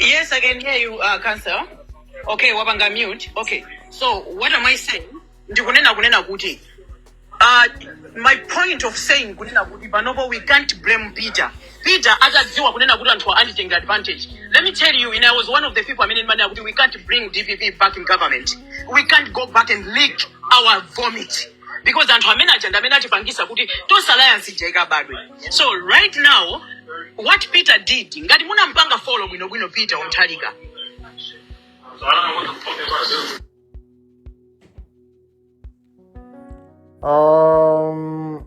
Yes, I can hear you, uh, Cancer. Okay, wapanga mute. Okay, so what am I saying? Ndikunena kunena kuti. Uh, my point of saying kunena kuti panopo we can't blame Peter. Peter atadziwa kunena kuti anthu anditenga advantage. Let me tell you, and I was one of the people amene ndimanena kuti we can't bring DPP back in government. We can't go back and lick our vomit. because anthu amene aja ndi amene atipangisa kuti tonse alliance ija ibadwe so right now what peter did ngati munampanga follow bwinobwino peter onthalika Um,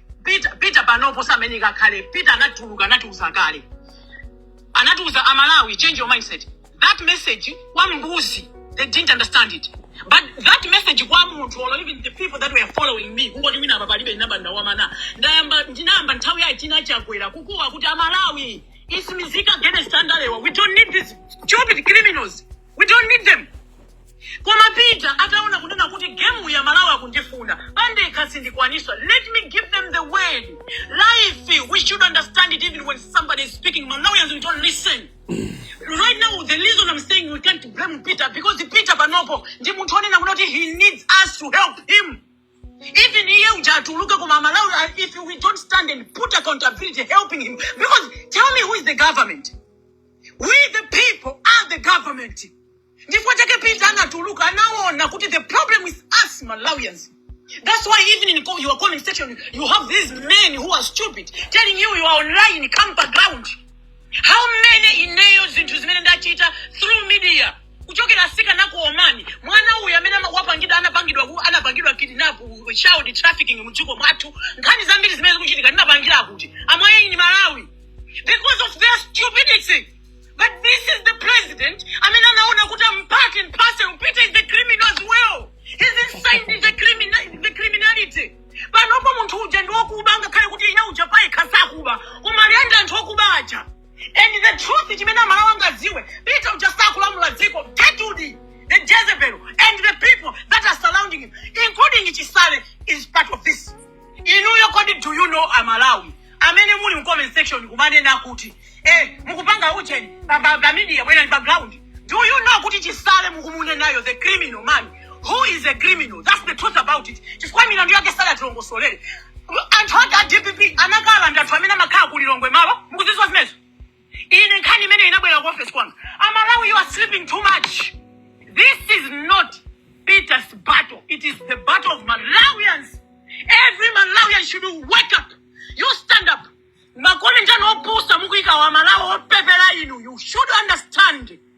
Peter, Peter panopo sameneka kale Peter anatuluka anatiuza kale anatiuza amalawi change your mindset that message kwa mbuzi they didn't understand it but that message kwa munthu or even the people that were following me kungoti wina apa palibe ndinamba ndawamana ndayamba ndinayamba nthawi yayi tinachakwera kukuwa kuti amalawi it's mizika against andalewa we don't need these stupid criminals we don't need them koma peter ataona kunena kuti gemu ya malawi akundifuna pandekha sindikwanisa let me give them the word life we should understand it even when somebody is speaking malawians we don't listen right now the reason i'm saying we can't blame peter because peter panopo ndi munthu onena kuti he needs us to help him Even iye uja atuluke koma amalawi a- if we don't stand and put accountability helping him because tell me who is the government we the people are the government ndifukwa chake peter anatuluka anaona kuti the problem is us malawians that's why even in co- your comment section you have these men who are stupid telling you you are online come background how many ineyo zinthu zimene ndachita through media kuchokera atsikana ku Oman mwana uyu amene aka- wapangidwa anapangidwa ku- anapangidwa kidnap ku- child trafficking mu dziko mwathu nkhani zambiri zimene zikuchitika ndinapangira kuti amwaye ni malawi because of their stupidity but this is the president amene anaona kuti am part and parcel peter is the criminal as well he's inside the criminality panopa munthu uja ndi wakuba ngakhale kuti iye uja payekha sakuba koma ali ndi anthu okuba aja and the truth chimene amalawi angadziwe peter uja sakulamula dziko Gertrude the jezebel and the people that are surrounding him including chisale is part of this inuyo kodi do you know amalawi amene muli mu comment section kumanena kuti eh mukupanga ujeni pa pa- pa media bwerani pa ground do you know kuti chisale mukumunenayo the criminal man who is a criminal that's the truth about it chifukwa milandu yake sadatilongosolere anthu ake a dpp anakalanda anthu amene amakhala ku lilongwe malo mukudziwa zimenezo ine nkhani imene inabwera ku office kwanga amalawi you are sleeping too much this is not peter's battle it is the battle of malawians every malawian should wake up you stand up make ulenji ndi opusa mukuyika amalawi opepera inu you should understand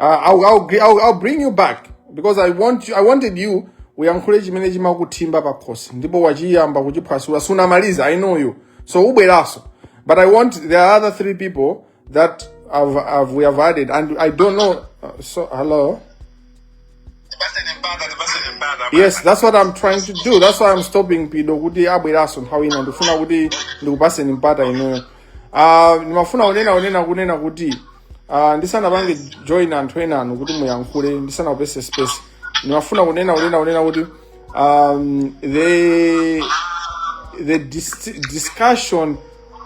Uh, I'll, I'll, gi- I'll, I'll bring you back because I want you, I wanted you uyankhule chimene chimakuthimba pa khosi ndipo wachiyamba kuchiphwasula sunamaliza I know you so ubweraso but I want there are other three people that I've, I've, we have added and I don't know uh, so hello yes that's what i'm trying to do that's why i'm stopping pido kuti abweranso nthawi ina ndikufuna kuti ndikupaseni mpata inuyo Ah, ndimafuna kunena kunena kunena kuti ah, ndisanapange join anthu enanu kuti muyankhule ndisanakupatseni space ndimafuna kunena kunena kunena kuti um, the the dis discussion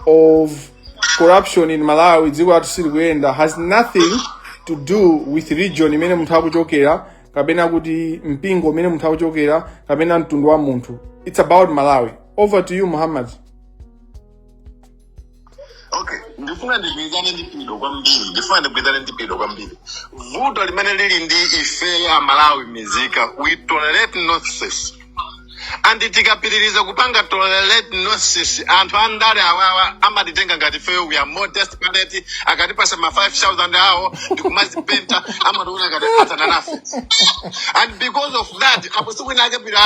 of corruption in malawi dziko lathu silikuyenda has nothing to do with region imene munthu akuchokera kapena kuti mpingo umene munthu akuchokera kapena mtundu wa munthu it's about malawi over to you muhammad okay ndifuna ndigwirizane ndi pido kwambiri ndifuna ndigwirizane ndi pido kwambiri vuto limene lili ndi ife amalawi mizika we tolerate nonsense and tikapitiriza kupanga tolerate nonsense anthu andale awawa amatitenga ngati ifeyo we are more desperate akatipasa ma 5000 awo ndikumazipenta amationa ngati athana nafe and because of that apo tsiku lina a Kapito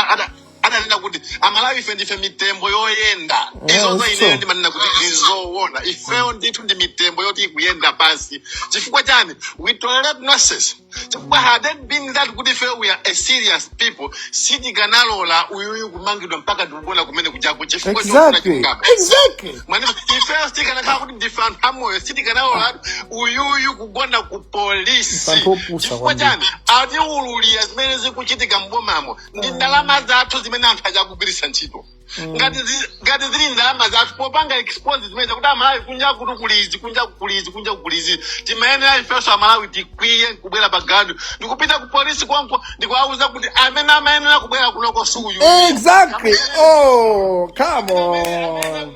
adanena kuti amalawi ife ndife mitembo yoyenda Yeah, it's true. izo ineyo ndimanena kuti ndizoona ifeyo ndithu ndi mitembo yoti ikuyenda pansi chifukwa chani we tolerate nonsense chifukwa had it been that kuti ife we are a serious people sitikanalola uyuyu kumangidwa mpaka ndikugona kumene kujaku chifukwa chofuna chilungamo exactly exactly mwana ifeyo tikanakhala kuti ndife anthu amoyo sitikanalola uyuyu kugona ku polisi anthu opusa kwambiri chifukwa chani watiululira zimene zikuchitika mbomamo ndi ndalama zathu zimene anthu aja akugwiritsa ntchito ngati zi- ngati zili ndalama zathu popanga expose zimene kuti amalawi kunja kuno kuli izi kunja kuli izi kunja kuli izi timayenera ifenso amalawi tikwiye nkubwera pa ground ndikupita ku polisi konko ndikuwauza kuti amene amayenera kubwera kunoko suyu Exactly. Oh, come on.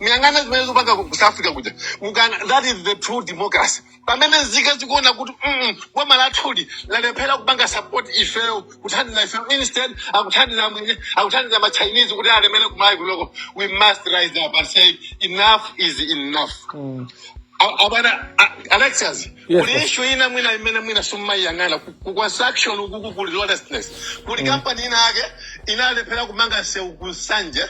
muyang'ane zimene zikupanga ku south africa kuja that is the true democracy pamene nzika zikuona kuti mm, boma lathuli lalephera kupanga support ifeyo kuthandiza ifeyo instead akuthandiza amwenye akuthandiza machinese kuti alemere kumalawi kunoko we must rise up and say enough is enough Mm. A- a bwana a- alexis Yes, boss. kuli issue ina mwina imene mwina simumayiyang'ana ku ku construction ukuku kuli lawlessness Mm. kuli company ina yake inalephera kumanga sewu ku nsanje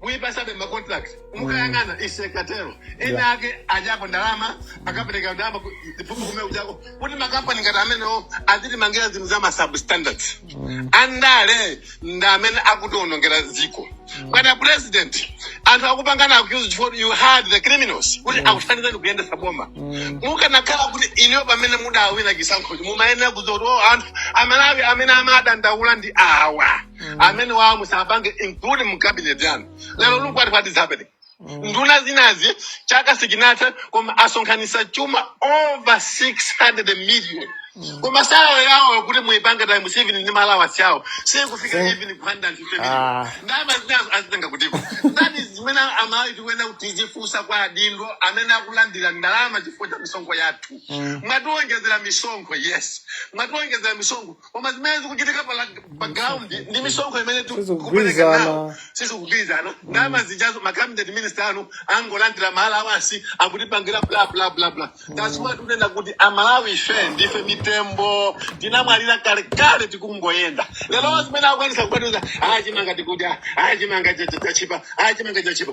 kuipasabe ma contract mukayang'ana izo zikatero ena Yeah. ake adyapo ndalama akapereka ndalama ku- kumene kujako kuti makampani ngati amenewo azitimangira zinthu za ma substandards Mm. andale ndi amene akutionongera dziko bwana president anthu akupangana accuse chifukwa you hired the criminals kuti Mm. akuthandizeni kuyendetsa boma Mm. mukanakhala kuti inuyo pamene mudawina chisankhocho mumayenera kudziwa kuti o anthu amalawi amene amadandaula ndi awa amenewa musapange include mu cabinet yanu lero look what what is happening nduna zinazi chaka sichinathe koma asonkhanitsa chuma over 600 million koma salary yawo kuti muipange times seven ndi ma allowance awo sikufika Sing. even ku 150 million Ah. ndalama zinazo azitenga kutiko that is zimene amalawi tikuyenera kuti tizifunsa kwa adindo amene akulandira ndalama chifukwa cha misonkho yathu Mm. mwatiwonjezera misonkho yes mwatiwonjezera misonkho koma zimene zikuchitika pa la- pa ground ndi misonkho imene tikupereka nawo sizikugwirizana sizikugwirizana ndalama zijazo ma cabinet minister anu angolandira ma allowance akutipangira bla bla bla bla that's why tunena kuti amalawi ife ndife mitembo tinamwalira kalekale tikungoyenda lero zimene akukwanitsa kukwanisa aa chimanga tikudya aa chimanga cha- cha- chachipa aa chimanga chachipa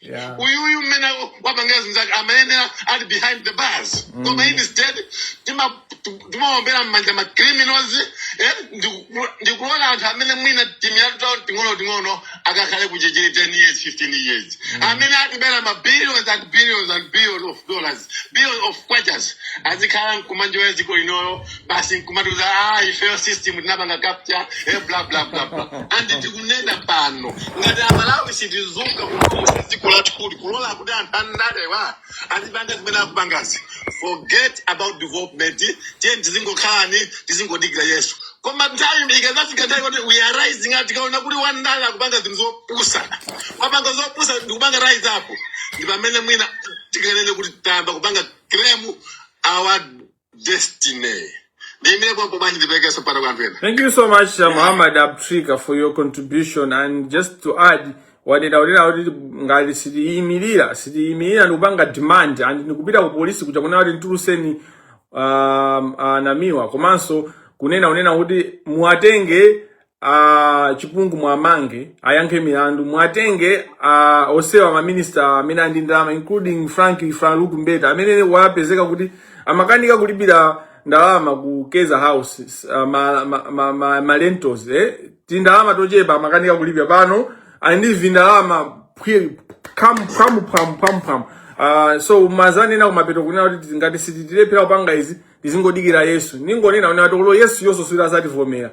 Yeah. uyuyu mmene wapangira zinthu zake amayenera ali behind the bars mm. koma instead timaombera mmanja ma criminals eh, ndikuona anthu amene mwina timilandu tawo ting'ono ting'ono akakhale ku chichiri 10 years 15 years mm. amene atibera ma billions and billions and billions of dollars billions of kwachas azikhala nkuma enjoya dziko linolo basi nkumatiuza ah, ifeyo system tinapanga capture eh, bla bla bla bla and tikunena pano ngati amalawi sitidzuka kunoku dziko lathuli kulola kuti anthu andalewa azipanga zimene akupangazi forget about development tiyeni tizingokhalani tizingodikira yesu koma nthawi ikadzafika nthawi kuti we are rising up tikaona kuti wandale akupanga zinthu zopusa wapanga zopusa ndikupanga rise up ndi pamene mwina tikanene kuti tayamba kupanga claim our destiny ndiyimire pompo basi ndiperekenso mpata kwa anthu ena Thank you so much, uh, Muhammad Abutika, for your contribution. And just to add, wanena kunena kuti ngati sitiyimirira sitiyimirira ndikupanga demand and ndikupita ku polisi kukanena kuti mtuluseni um, anamiwa komanso kunena kunena kuti muwatenge a Chipungu muwamange ayankhe milandu muwatenge a osewa maminista amene ali ndi ndalama including Frank Farouk Mbeta amene wapezeka kuti amakanika kulipira ndalama ku Keza House uh, ma, ma, ma, ma, ma rentals eh? tindalama tochepa amakanika kulipira pano ali ndi vindalama phwi- phamu phamu phamu phamu phamu Ah, so mwadzanena kumapeto kunena kuti tizi- ngati sitilephera kupanga izi tizingodikira Yesu ningonena kuti olo Yesu yoso sadzativomera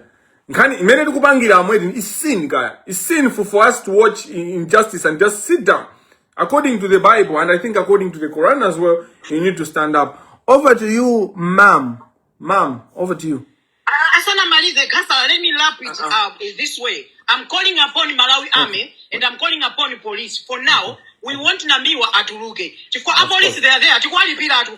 nkhani imene tikupangira amweti is sin kaya is sin for, for us to watch in- injustice and just sit down according to the bible and i think according to the quran as well you need to stand up over to you mam mam over to you Uh, asanamalize gasala let me lap it uh, this way i'm calling upon malawi army and i'm calling upon police for now we want nambiwa atuluke chifukwa apolisi they are there tikuwalipira atu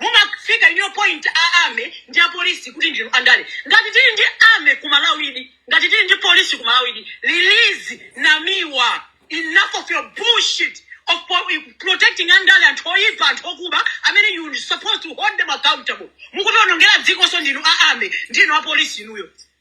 Mumafika inuyo point a army ndi apolisi kuti ndinu andale. Ngati tili ndi army ku Malawidi, ngati tili ndi police ku Malawidi, release Namiwa. Enough of your bullshit of po protecting andale, anthu oyipa, anthu okuba amene you're supposed to hold them accountable. Mukutiwonongera dzikonso ndinu a army, ndinu apolisi inuyo.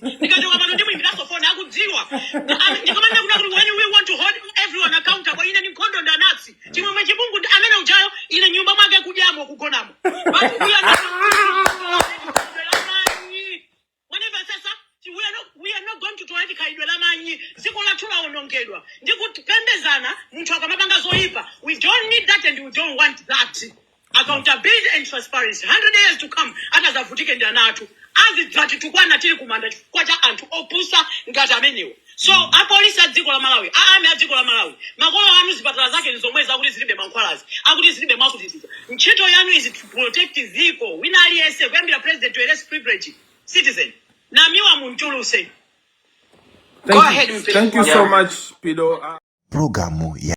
ndikachoka pano ndimuyimbiranso foni akudziwa Am- ndikamanena kunena kuti when we want to hold everyone accountable ine ndi nkhondo ndi anansi Chimwemwe Chipungu amene ujayo ine nyumba mwake kudyamo kugonamo but we are not whenever sasa we are not we are not going to tolerate khalidwe la manyi dziko lathu lawonongedwa ndi kupembezana munthu akamapanga zoyipa we don't need that and we don't want that accountability and transparency 100 years to come atadzavutike ndi ana athu azidzatitukwana tili kumanda chifukwa cha anthu opusa ngati amenewo so apolisi a dziko la malawi a ami a dziko la malawi makolo anu zipatala zake ndi zomwezi akuti zilibe mankhwalazi akuti zilibe mwakutitiza ntchito yanu is to protect dziko wina aliyense kuyambira president to a less privileged citizen Namiwa mumutulutse go Thank you. ahead Thank you so mpelikuwa much, Pido. Programu ya